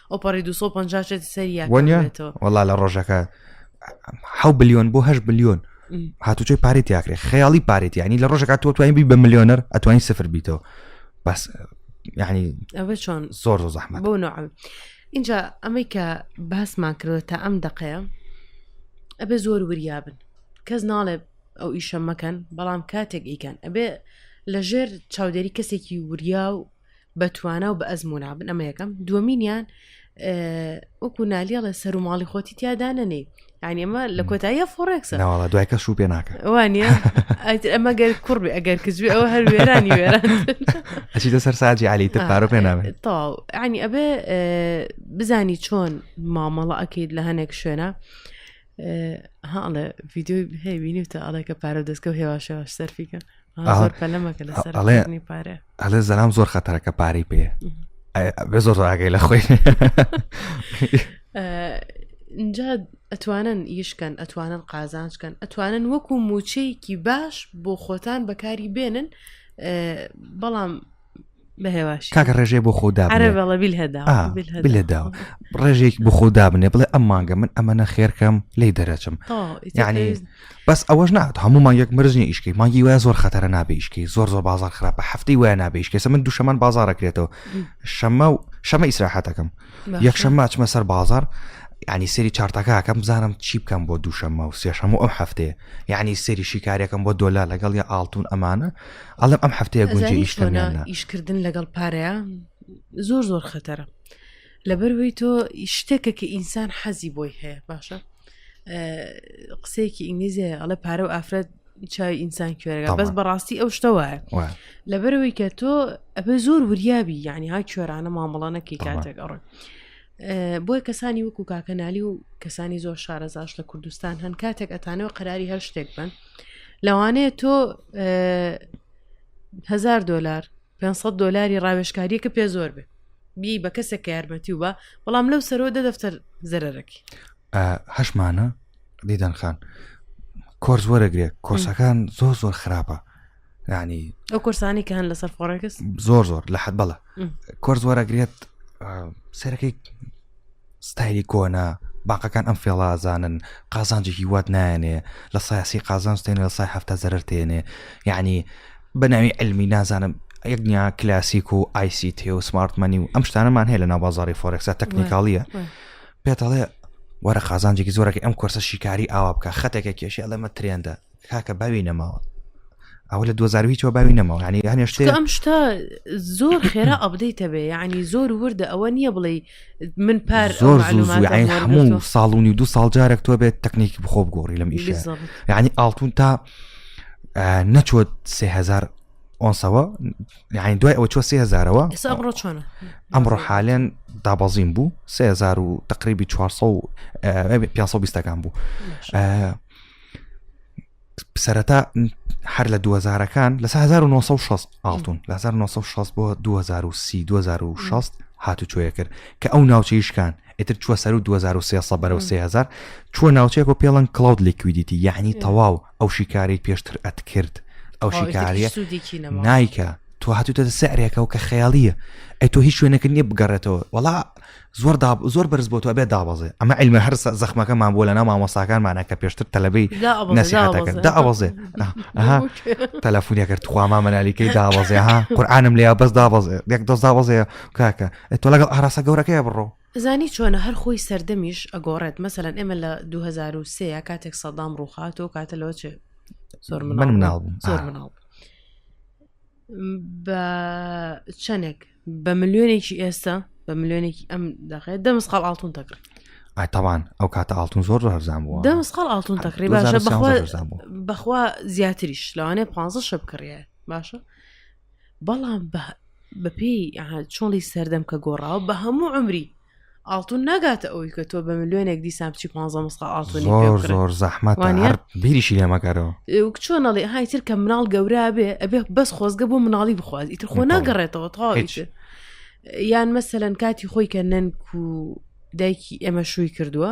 ئۆپەڕی 250 چێتی سەری یاکەێتەوە وڵا لە ڕۆژەکە ح بلیۆن بۆ هەش بلیۆن هاتوچۆی پارێت یاکرێ خەیاڵی پارێت ینی لە ڕۆژەکە تۆ توانین بی بە ملیۆنەر ئەتوانین سفر بیتەوە بەس ینی ئەوە چۆن زۆر زۆر زەحمە بۆ نوعم اینجا ئەمەی کە باسمان کردوە تا ئەم دقەیە ئەبێ زۆر وریابن کەس ناڵێ ئەو ئیشە مەکەن بەڵام کاتێک ئیکەن ئەبێ لەژێر چاودێری کەسێکی وریا و بە توانا و بە ئەزمونا بن ئەمە یەکەم دووەمینیان وەکو نالیڵە سەر و ماڵی خۆتی تیادا نەنێ ینی ئەمە لە کۆتاییە فۆڕێکسە ناوەڵە دوای کەش و پێ ناکە وانە ئەمە گەر کوڕبێ ئەگەر کزوێ ئەوە هەر وێرانی وێران ئەچیتە سەر ساجی علی تر پارۆ پێ ناێت تاو ینی ئەبێ بزانی چۆن مامەڵە ئەکەیت لە هەنێک شوێنە هاڵێ ڤیددیوی هەیبینی تە ئەڵێکە پارە دەستکە و هێواشەوە سەرفیکە ئەڵێ زەلام زۆر خەتەرەکە پارەی پێ بێ زۆر ڕاگەی لە خۆی اینجا ئەتوانن یشکەن ئەتوانن قازانچکەن ئەتوانن وەکو موچەیەکی باش بۆ خۆتان بەکاری بێنن بەڵام کاکە ڕێژێ بۆ خۆدا ڕێژێک بۆ خۆ دابنێ بڵێ ئەم مانگە من ئەمە نە خێرکەم لی دەرەچم یعنی بەس ئەوەش نات هەموو مانگێک مرزنی ئیشکی مانگی وای زۆر خەتەرە نابیشکی زۆر زۆر بازار خراپە هەفتەی وای نابیشکێسە من دوشەمان بازارەکرێتەوە شەمە و شەمە ئیسراحەتەکەم یەکشەم ماچمە سەر بازار ینی سری چارتەکەکەم بزانم چی بکەم بۆ دووشەممە و سێشەم و ئەم هەفتەیە یعنی سری شیکارەکەم بۆ دۆلا لەگەڵ یا ئاڵتون ئەمانە ئەڵم ئەم هەفتەیە گونجی ئیشکردە ئیشکردن لەگەڵ پارەیە زۆر زۆر خەتەرە لەبەروەی تۆ شتێکە کە ئینسان حەزی بۆی هەیە باشە قسەیەکی ئینگلیزیە ئەڵە پارە و ئافرەت چای ئینسان کوێرەگە بەس بەڕاستی ئەو شتە وایە لەبەرەوەی کە تۆ ئەبێ زۆر وریابی یعنی ها کوێرانە مامەڵە نەکەی کاتێک ئەڕۆی بۆی کەسانی وەکو کاکەنالی و کەسانی زۆر شارەزاش لە کوردستان هەن کاتێک ئەتانەوە قەراری هەر شتێک بن لەوانەیە تۆ هزار دلار 500 دلاری ڕاوێشکاریە کە پێ زۆر بێ بی بە کەسێک کە یارمەتی و بە بەڵام لەو سەرۆ دە دەفتەر زەرەرەکی هەشمانە دیدەن خان کۆرس وەرەگرێت کۆرسەکان زۆر زۆر خراپە ینی ئەو کورسانی کە هەن لەسەر فۆڕێکس زۆر زۆر لە حەد بەڵە کۆرس وەرەگرێت سەرەکەی ستایلی کۆنا باقەکان ئەم فێڵازانن قازانجێکی وات نایەنێ لە سایسی قازانستێن لە سای هەفتا زەرەر تێنێ یعنی بەناوی علمی نازانم یەکنیا کلاسیک و آیسی تێ و سمارتمەنی و ئەم شتانەمان هەیە لە ناوبازاری فۆرێکسا تەکنیکاڵیە پێتەڵێ وەرە قازانجێکی زۆرەکە ئەم کۆرسە شیکاری ئاوا بکە خەتێکە کێشی ئەڵێمە ترێندە کاکە باوی نەماوە ئەو لە دوزار هیچەوە باوی نەماوە ینی هەنێشتێ ئەم شتا زۆر خێرا ئەبدەیتە بێ یعنی زۆر وردە ئەوە نییە بڵێ من پار زۆر هەموو ساڵونی و دو ساڵ جارێک تۆ بێت تەکنیکی بخۆ بگۆڕی لەم ئیش ینی ئاڵتون تا نەچۆت سهزار ئۆنسەوە یعنی دوای ئەوە چۆ سهزارەوە ئەمڕۆ چۆن ئەمڕۆ حالێن دابەزین بوو سهزار و تقریبی 400 520ەکان بوو سەرەتا هەر لە دوزارەکان لە 1960 ئاڵتون لە 1960 بۆ 2030 2006 هاتوچۆیە کرد کە ئەو ناوچەیشکان ئتر چوە سەر و 2023 بەرەو 3000 چوە ناوچەیە بۆ پێڵەن کلااود لیکویدیتی یعنی تەواو ئەو شیکاری پێشتر ئەتکرد ئەو شیکاریە نایکە تۆ هاتوتە سعرێکەوە کە خەیاڵیە ئەی تۆ هیچ شوێنەکە نیە بگەڕێتەوە وڵا زۆر زۆر بەرز بۆ تۆ بێ دابەزێ ئەمە علمە هەر زەخمەکەمان بۆ لە ناو مامۆساکانمانە کە پێشتر تەلەبەی نسیحەتەکە دابەزێ تەلەفونیەکرد تخواما مەنالیکەی دابەزێ ها قورآانم لێ بەس دابەزێ یەک دەست دابەزێ کاکە تۆ لەگەڵ ئاراسە گەورەکەی بڕۆ زانی چۆنە هەر خۆی سەردەمیش ئەگۆڕێت مەسەن ئێمە لە 2023 کاتێک سەدام ڕووخات و کاتە لەوە چێ زۆر من مناڵ زۆر مناڵ بە چەندێک بە ملیۆنێکی ئێستا بە ملیۆنێکی ئەم دەقێت دە مسقال ئاڵتون تەکڕی ئایتەوان ئەو کاتە ئاڵتون زۆر ڕزان بووە دە مسقال ئاڵتون تەکڕی باشە بەخوا بەخوا زیاتریش لەوانێ پ شە بکڕە باشە بەڵام بەپی چۆڵی سەردەم کە گۆڕاوە بە هەموو عمری ئاڵتون ناگاتە ئەوی کە تۆ بە ملیۆنێک دیسان بچی پ مسقا ئاڵتونی زۆر زەحمەتوانە بیریشی لێمەکەرەوە چۆنەڵی هایتر کە مناڵ گەورا بێ ئەبێ بەس خۆزگە بۆ مناڵی بخواز ئیتر خۆ ناگەڕێتەوە تاویش یان مەسەەن کاتی خۆی کە نەنک و دایکی ئێمە شووی کردووە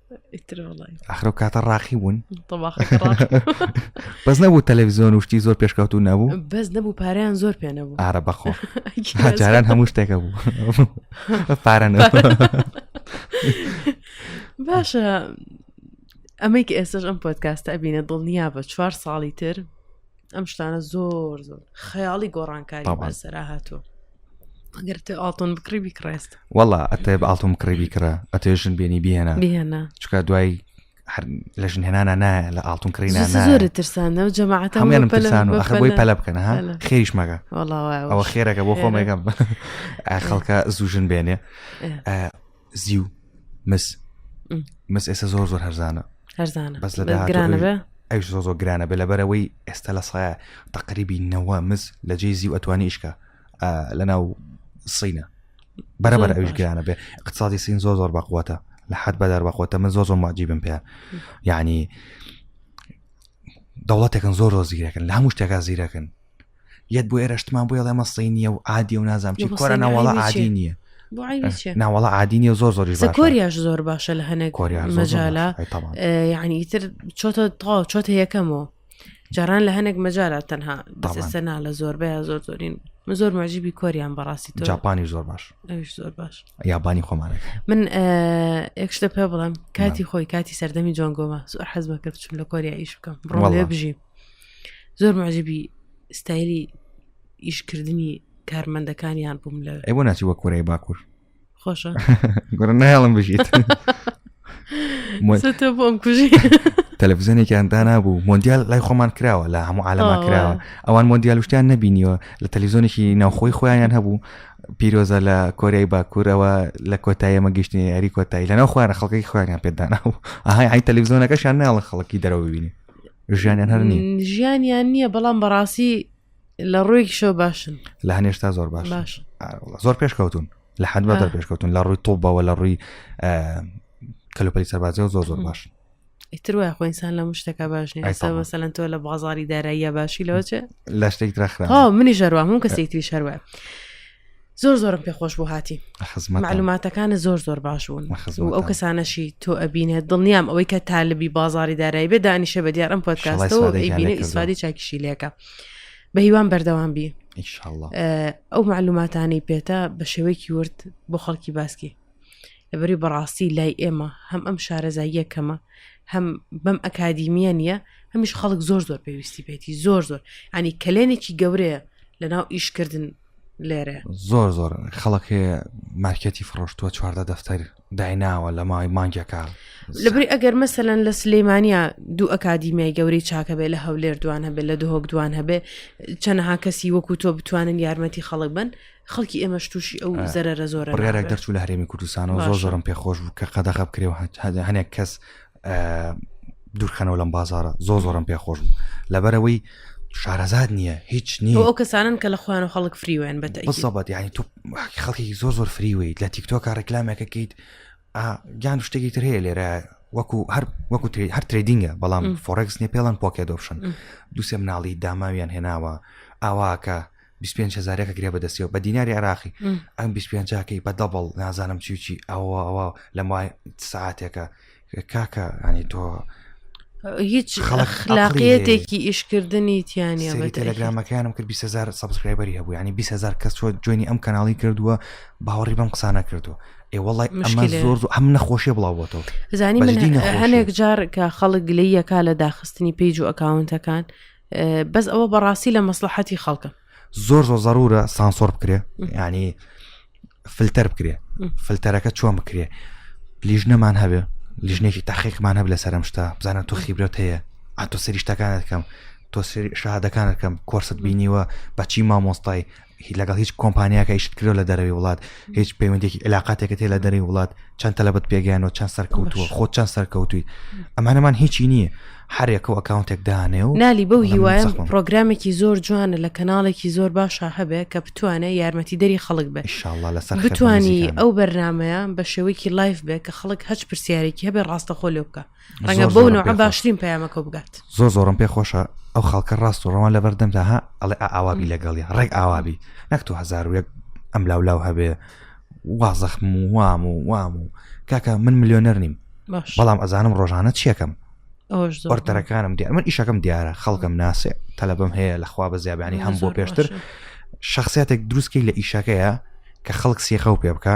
ئەخر و کاتە ڕاقی بوون بەس نەبوو تەلەڤزیۆن وشتی زۆر پێشکەوت و نەبوو بەس نەبوو پاریان زۆر پێ نەبوو ئارە بەخۆ جاران هەموو شتێکە بوو پارە باشە ئەمەی کە ئێستش ئەم پۆتکاستە ئەبینە دڵنیا بە چوار ساڵی تر ئەم شتانە زۆر زۆر خەیاڵی گۆڕانکاری بەسەرا هاتووە ئەگەر تێ ئاڵتون بکڕی بیکڕێست وڵا ئەتێ ئاڵتون بکڕی بیکڕە ئەتێژن بێنی بهێنە بهێنە چکە دوای لە ژن هێنانە نایە لە ئاڵتون کڕین زۆر ترسانە و جەماعات هەمێنم پرسان و ئەخبی پەلە بکەن ها خێریش مەگە ئەوە خێرەکە بۆ خۆمێکم خەڵکە زوژن بێنێ زی و مس مس ئێستا زۆر زۆر هەرزانە هەرزانە بەس لە گرانە بێ ئەوش زۆ زۆ گرانە بێ لەبەرەوەی ئێستا لە سایە تەقریبی نەوە مز لە جێ زی و ئەتوانی ئیشکە لە ناو سینە بەرەبەر ئەوش گرانە بێ اقتصادی سین زۆر زۆر بەقوتە لە حد بەدار بەخۆتە من زۆر زۆر ماجیبم پێ یعنی دەوڵەتێکن زۆر زۆر زیرەکن لە هەموو شتێکا زیرەکن یەت بۆ ئێرەشتمان بۆ ڵێمە سەی نیە و عادی و نازام چی کۆرە ناوەڵە عادی نییە ناوەڵە عادی نیە زۆر زۆری کۆریاش زۆر باشە لە هەنێک مەجالە یعنی ئیتر چۆتە تا چۆتە یەکەمەوە جاران لە هەنێک مەجارە تەنها بەسەنا لە زۆربەیە زۆر زۆرین من زۆر مەجیبی کۆریان بەڕاستی تۆ جاپانی زۆر باش زۆر باش یابانی خۆمانە من ئەکش لە پێ بڵم کاتی خۆی کاتی سەردەمی جۆنگۆمە زۆر حەزمە کرد چون لە کۆریا ئیش بکەم بڕۆ بژیم زۆر معجبی ستایلی ئیشکردنی کارمەندەکانیان بووم لە ئەی بۆ ناچی وە کورەی باکوور خۆشە گوڕ نایڵم بژیت تۆ بۆم کوژی تەلەڤزیۆنێکیان دانابوو مۆندیال لای خۆمان کراوە لە هەموو عالەما کراوە ئەوان مۆندیال شتیان نبینیوە لە تەلیزۆنێکی ناوخۆی خۆیان هەبوو پیرۆزە لە کۆریای باکوورەوە لە کۆتایەمە گەشتنی یاری کۆتایی لەناو خوارە خەڵکی خواران پێدانابوو ئاهای ئای تەلیزۆنەکەشان ناڵە خەڵکی دەرەوە ببینی ژیانیان هەر نیە ژیانیان نییە بەڵام بەڕاستی لە ڕوویکیشەوە باشن لە هەنێشتا زۆر باش باش زۆر پێشکەوتون لە حد بە پێشکەوتون لە ڕووی تۆبەوە لە ڕووی کەلوپەلی سەربازی و زۆر زۆر باش ئیتر وای خۆئسان لە مشتەکە باش نیەسەلەن تۆ لە بازاری داراییە باشی لەوچێ لە شتێک درا منی ژەروە هەموو کەسێکتری شەروە زۆر زۆرم پێ خۆش بۆ هاتی معلوماتەکانە زۆر زۆر باش بوون ئەو کەسانەشی تۆ ئەبینێت دڵنیام ئەوەی کە تالبی بازاری دارایی بێ دانیشە بە دیارم پۆتکاستەوە ئەیبینە ئیسفادی چاکیشی لەکە بە هیوان بەردەوام بی ئەو معلوماتانی پێتە بە شێوەیەکی ورد بۆ خەڵکی باسکی لەبەری بەڕاستی لای ئێمە هەم ئەم شارەزاییە کەمە هەم بەم ئەکادیمیە نییە هەمیش خەڵک زۆر زۆر پێویستی پێێتی زۆر زۆر ئەنی کەلێنێکی گەورەیە لە ناو ئیشکردن لێرە زۆر زۆر خەڵکێ مارکەتی فڕۆشتووە چواردە دەفتەر دایناوە لە مای مانگەکە لەبری ئەگەر مەسەەن لە سلەیمانیا دوو ئەکادیمیای گەورەی چاکە بێ لە هەولێر دوان هەبێ لە دهۆک دوان هەبێ چەنەها کەسی وەکو تۆ بتوانن یارمەتی خەڵک بن خەڵکی ئێمەش تووشی ئەو زەرەرە زۆرە ڕێرەێک دەرچوو لە هەرێمی کوردستانەوە زۆر زۆرم پێخۆش بوو کە قەدەغە بکرێ هەنێک کەس دوورخەنەوە لەم بازارە زۆ زۆرم پێ خۆش بوو لەبەرەوەی شارەزاد نییە هیچ نییە ئەو کەسانن کە لە خوان و خەڵک فریوێن بە بەسەبەت یعنی تو خەڵکی زۆر زۆر فریویت لە تیکتۆکە ڕێکلامێکەکەیت گیان شتێکی تر هەیە لێرە وەکو هەر وەکو هەر ترێدینگە بەڵام فۆرەکس نیە پێڵەن پۆکێ دۆپشن دوسێ مناڵی داماویان هێناوە ئاواکە بیست پێنج هەزارەکە گرێ بەدەستەوە بە دیناری عراقی ئەم بیست پێنجاکەی بە دەبڵ نازانم چیچی ئەوە ئەوە لە مای ساعتێکە کاکە ئەنی تۆ هیچ خلاقیەتێکی ئیشکردنی تیانە تەلەگرامەکانم کرد 20هزار سبسکرایبەری هەبوو ینی 20هزار کەس چۆ جوێنی ئەم کەناڵی کردووە باوەڕی بەم قسانە کردو ئێ وڵی ئەمە زۆر ئەم نەخۆشیە بڵاوبتەوە زانی هەنێک جار کە خەڵک گلەیەکە لە داخستنی پیج و ئەکاونتەکان بەس ئەوە بەڕاستی لە مەسلحەتی خەڵکە زۆر زۆر زەرورە سانسۆر بکرێ ینی فلتەر بکرێ فلتەرەکە چۆن بکرێ لیژ نەمان هەبێ لیژنێکی تاقیقمان هەب لە سەرم شتا بزانە تۆ خیبرەت هەیە ئاتۆ سەریشتەکانت کەم تۆ شادەکانت کەم کۆرست بینیوە بەچی مامۆستای هی لەگەڵ هیچ کۆمپانیاکە ئیشت کرۆ لە دەرەوەی وڵات هیچ پەیوەندێکی علااقاتێکە تێ لە دەری وڵات چەند تەلبەت پێگەیانەوە چەند سەرکەوتووە خۆ چەند سەرکەوتوی ئەمانەمان هیچی نییە هەرێکە و ئەکاونتێک دانێ و نالی بەو هیواە پرۆگرامێکی زۆر جوانە لە کەناڵێکی زۆر باشە هەبێ کە بتوانێ یارمەتی دەری خەڵک بێ شله لەسەر بتانی ئەو بەرنمەیە بە شێوەیەکی لایف بێ کە خەڵک هەچ پرسیارێکی هەبێ ڕاستەخۆ لێ بکە ڕەنگە بۆ نەوە باشترین پەیامەکە بگات زۆ زۆرم پێ خۆشە ئەو خەڵکە ڕاست و ڕەوان لە بەردەمدا ها ئەڵێ ئاوابی لەگەڵی ڕێک ئاوابی نەک تو هزار و یەک ئەم لاو لاو هەبێ وازەخم و وام و وام و کاکە من ملیۆنەر نیم بەڵام ئەزانم ڕۆژانە چیەکەم ئۆرتەرەکانم دیار من ئیشەکەم دیارە خەڵکم ناسێ تەلبم هەیە لە خوا بە زیابانی هەم بۆ پێشتر شخصیتێک دروستکەی لە ئیشەکەیە کە خەڵک سیخە و پێ بکە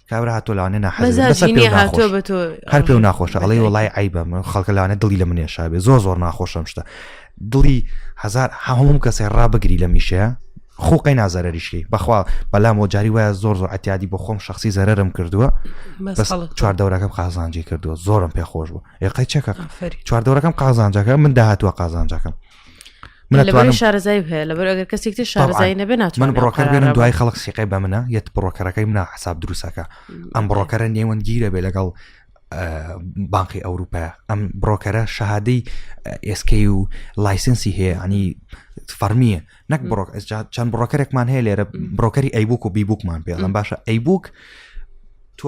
کابرا هاتۆ لەوانێ ناحەزی بەسەر مەزاجی پێ نییە هاتۆ ناخۆش بە تۆ هەر پێ و ناخۆشە ئەڵێ بەتای. وڵای عیبە من خەڵکە لەوانێ دڵی لە منێ شابێ زۆر زۆر ناخۆشم شتە دڵی هزار هەموم کەسێ ڕابگری لە میشەیە خوقی نازەرریشی بەخوا بەلام و جاری وایە زۆر زۆر عتیادی بۆ خۆم شخصی زەرم کردووە بەس بەس خەڵک چوار دەورەکەم قازانجی کردووە زۆرم پێ خۆش بوو ئێقای چەکە ئافەری. چوار دەورەکەم قازانجەکە من داهاتوە قازانجەکەم من شارزای هەیە لەبەر ئەگەر کەسێک شارزای نەبێ نات من بڕۆکەر بێنم دوای خەڵک سیقی بە منە یەت بڕۆکەرەکەی منە حساب دروستەکە ئەم بڕۆکەرە نێوەندگیرە بێ لەگەڵ بانقی ئەوروپا ئەم بڕۆکەرە شەهادەی ئێسکەی و لایسنسی هەیە ئەنی فەرمیە نەک بڕۆک چەند بڕۆکەرێکمان هەیە لێرە بڕۆکەری ئەیبووک و بیبووکمان پێڵم باشە ئەیبووک تۆ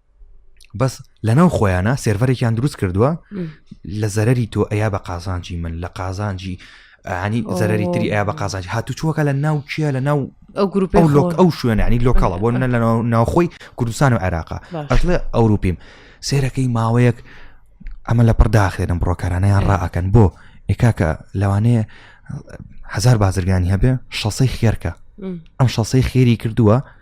بەس لەناو خۆیانە سێرڤەرێکیان دروست کردووە لە زەرری تۆ ئەیا بە قازانجی من لە قازانجی ینی زەرری تری ئەیا بە قازانج هاتو چووەکە لە ناو کێ لە ناو ئەو گروپ ئەو لۆک ئەو شوێنانی لۆکەڵە بۆ منە لە ناوخۆی کوردستان و عێراقا ئەشڵێ ئەوروپیم سێرەکەی ماوەیەک ئەمە لە پڕداخێنم بڕۆکارانەیان ڕائەکەن بۆ ئێکاکە لەوانەیە هزار بازرگانی هەبێ شەسەی خێرکە ئەم شەسەی خێری کردووە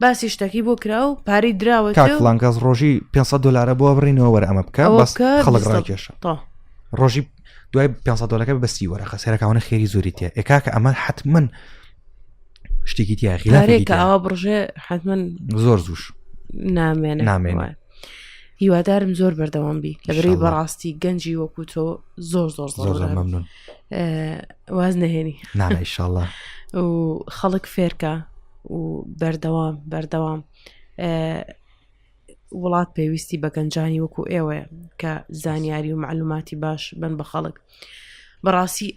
باسی شتەکەی بۆ کرا و پارەی دراوە کاک فڵان گاز ڕۆژی 500 دلارە بۆ بڕینەوە وەرە ئەمە بکە بەس خەڵک ڕاکێشە تا ڕۆژی دوای 500 دلارەکە بەسی وەرەخە سێرەکانە خێری زۆری تێ ئێکاکە ئەمە حتمما شتێکی تیا غیلارێکە ئەوە بڕژێ حتمما زۆر زوش نامێن نامێن هیوادارم زۆر بەردەوام بی لەبری بەڕاستی گەنجی وەکو تۆ زۆر زۆر زۆر ممنون واز نهێنی نانایشله و خەڵک فێرکە و بەردەوام بەردەوام وڵات پێویستی بە گەنجانی وەکو ئێوەیە کە زانیاری و معلوماتی باش بن بە خەڵک بەڕاستی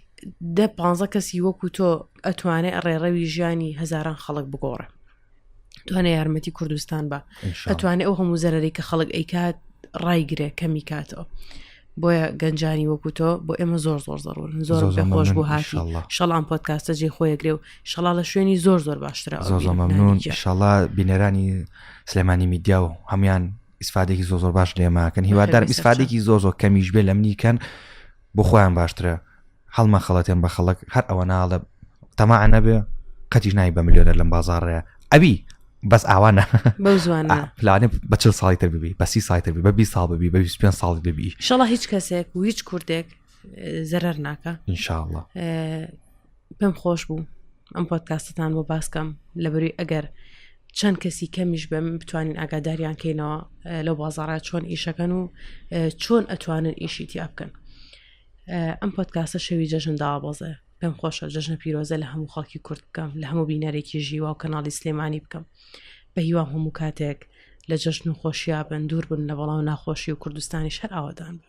دە پ کەسی وەکو تۆ ئەتوانێت ڕێڕەوی ژیانی هزاران خەڵک بگۆڕە توانێ یارمەتی کوردستان بە ئەتوانێت ئەو هەموو زەرری کە خەڵک ئەیکات ڕایگرێ کەمی کاتەوە بۆیە گەنجانی وەکو تۆ بۆ ئێمە زۆر زۆر زەڕون زۆر پێ خۆش بوو هاشڵام پۆتکاستە جێ خۆیەگرێ و شڵا لە شوێنی زۆر زۆر باشترە شڵا بینەرانی سلێمانی میدیا و هەمان ئیسفادێکی زۆ زۆر باش لێماکەن هیوادار ئیسفادێکی زۆ زۆر کەمیش بێ لە منیکەن بۆ خۆیان باشترە هەڵمە خەڵەتێن بە خەڵک هەر ئەوە ناڵە تەما نەبێ قەتیش نای بە ملیۆنە لەم بازارڕەیە ئەوی بەس ئاوانە پلانێ بە چل ساڵی تر ببی بەسی سایتر بی بە بی ساڵ ببی بە پێ ساڵ ببی شڵە هیچ کەسێک و هیچ کوردێک زەرەر ناکە انشاءله پێم خۆش بوو ئەم پۆتکاستتان بۆ باسکەم لە بەروی ئەگەر چەند کەسی کەمیش بم بتوانین ئاگاداریان کەینەوە لەو بازارە چۆن ئیشەکەن و چۆن ئەتوانن ئیشی تیا بکەن ئەم پۆتکاسە شەوی جەژن داوابەزێ پێم خۆشە جەژنە پیرۆزە لە هەموو خەڵکی کورد بکەم لە هەموو بینەرێکی ژیوا و کەناڵی سلێمانی بکەم بە هیوام هەموو کاتێک لە جەژن و خۆشییا بن دوور بن لە بەڵاو ناخۆشی و کوردستانی شەر ئاوادان بن